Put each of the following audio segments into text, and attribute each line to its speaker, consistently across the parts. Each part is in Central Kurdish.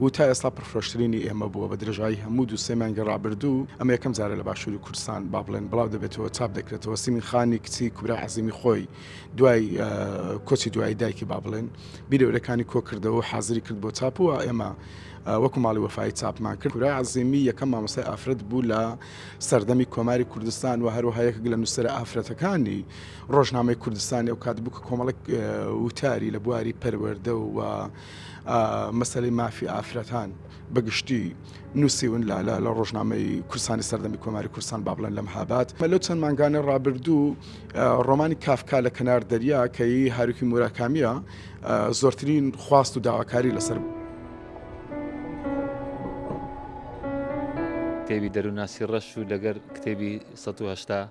Speaker 1: و تا ئێستا پڕفرۆشترینی ئێمە بووە بە درێژایی هەموو دوو سێ مانگی ڕابردوو، ئەمە یەکەم جارە لە باشووری کوردستان با بڵێن بڵاو دەبێتەوە چاپ دەکرێتەوە، سیمین خانی کچی کوبرا عەزیمی خۆی دوای کۆچی دوایی دایکی با بڵێن بیرە ورەکانی کۆ کردەوە و حازری کرد بۆ چاپ و ئێمە وەکو ماڵی وەفایی چاپمان کرد کورا عزیمی یەکەم مامۆستای ئافرەت بوو لە سەردەمی کۆماری کوردستان و هەروەها یەکێک لە نووسرە ئافرەتەکانی ڕۆژنامەی کوردستانی ئەو کات بوو کە کۆمەڵک وتاری لە بواری پەروەەردە و مەسەلەی مافی ئافرەتان بەگشتی نووسیون لە لە لە ڕۆژنامەی کورسانی سەردەمی کۆماری کورسان با بڵێن لەم هابات مەلو چەند مانگانە ڕابردوو ڕۆمانی کافکا لە کەنار دەریا کەی هاروکی موراکامیە زۆرترین خواست و داواکاری لەسەر بوو. کتێبی
Speaker 2: دەروناسی ڕەش و لەگەر کتێبی 1970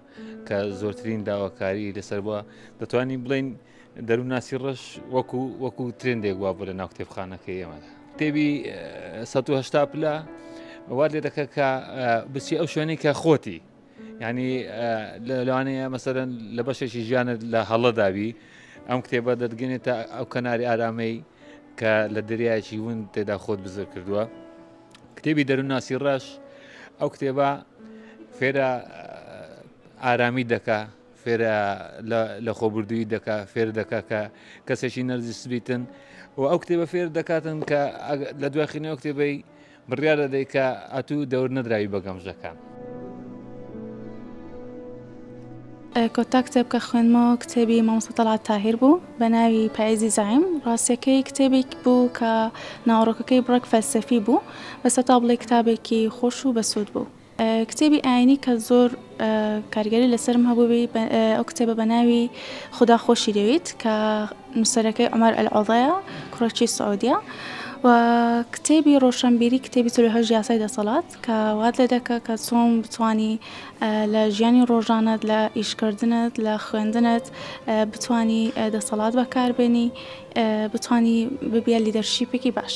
Speaker 2: کە زۆرترین داواکاری لەسەر بووە دەتوانین بڵین دەروونناسی ڕەش وەکو وەکو ترندێک وا بوو لە ناو کتێبخانەکە ئێمەدا کتێبی 1970 پلە وا لێ دەکە کە بچی ئەو شوێنی کە خۆتی ینی لەوانەیە مەسەرەن لە بەشێکی ژیانت لە هەڵە داوی ئەم کتێبە دەدگەێتە ئەو کەناری ئارامەی کە لە دەریایکی ون تێدا خۆت بزر کردووە کتێبی دەروونناسی ڕەش ئەو کتێبە فێرە ئارامی دەکە فێر لە خۆبوردوویی دەکا فێر دەکا کە کەسێکی نەرجس بیتن و ئەو کتێبە فێر دەکاتن کە لە دواخینی ئەو کتێبەی بڕیاە دەدەی کە ئەتوو دەور نەدراوی بە گەمژەکان.
Speaker 3: کۆتا کتێب کە خوێنمەوە کتێبی مامۆستا تەڵات تاهیر بوو بە ناوی پایزی زعیم ڕاستەکەی کتێبێک بوو کە ناوڕۆکەکەی بڕێک فەلسەفی بوو بەسە تا بڵێ کتابێکی خۆش و بەسوود بوو کتێبی ئاینی کە زۆر کاریگەری لەسەرم هەبووی ئەو کتێبە بە ناوی خدا خۆشی دەوێت کە نووسەرەکەی عمر ئەلعۆضەیە کوڕەچی سعودیە و کتێبی ڕۆشنبیری کتێبی تلوهژ یاسای دەسەڵات کە وات لێ دەکە کە چۆن بتانی لە ژیانی ڕۆژانت لە ئیشکردنت لە خوێندنت بتانی دەسەڵات بەکاربێنی بتانی ببیە لیدەرشیپێکی باش.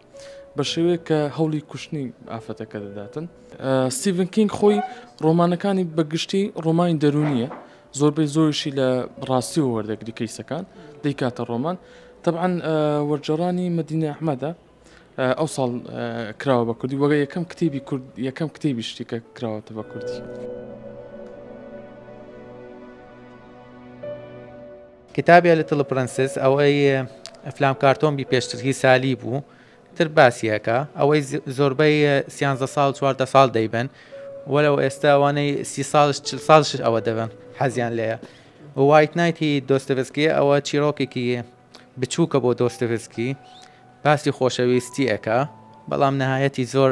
Speaker 4: بە شێوەیەک کە هەوڵی کوشتنی ئافرەتەکە دەداتن. ستیڤن کینگ خۆی ڕۆمانەکانی بەگشتی ڕۆمانی دەرونیە زۆربەی زۆرشی لە ڕاستی و وەردەگری کەیسەکان دەیکاتە ڕۆمان طبعاان وەرجەڕانی مدینە ئەحمەدە ئەو ساڵ کراوە بە کوردی وەگە یەکەم کتێبی کورد یەکەم کتێبی شتێکە کراوەتە بە کوردی.
Speaker 5: کتابی لیتڵ پرنسس ئەوەی ئەفلام کارتۆن بی پێشتر هی سالی بوو تر باسیەکە ئەوەی زۆربەی سیانزە ساڵ چواردە ساڵ دەیبن وەلەو ئێستا ئەوانەی سی ساڵش چل ساڵش ئەوە دەبن حەزیان لێە وایت نایتی دۆستەبسکی ئەوە چیرۆکێکی بچووکە بۆ دۆستەبسکی باسی خۆشەویستی ئەکا بەڵام نەهایەتی زۆر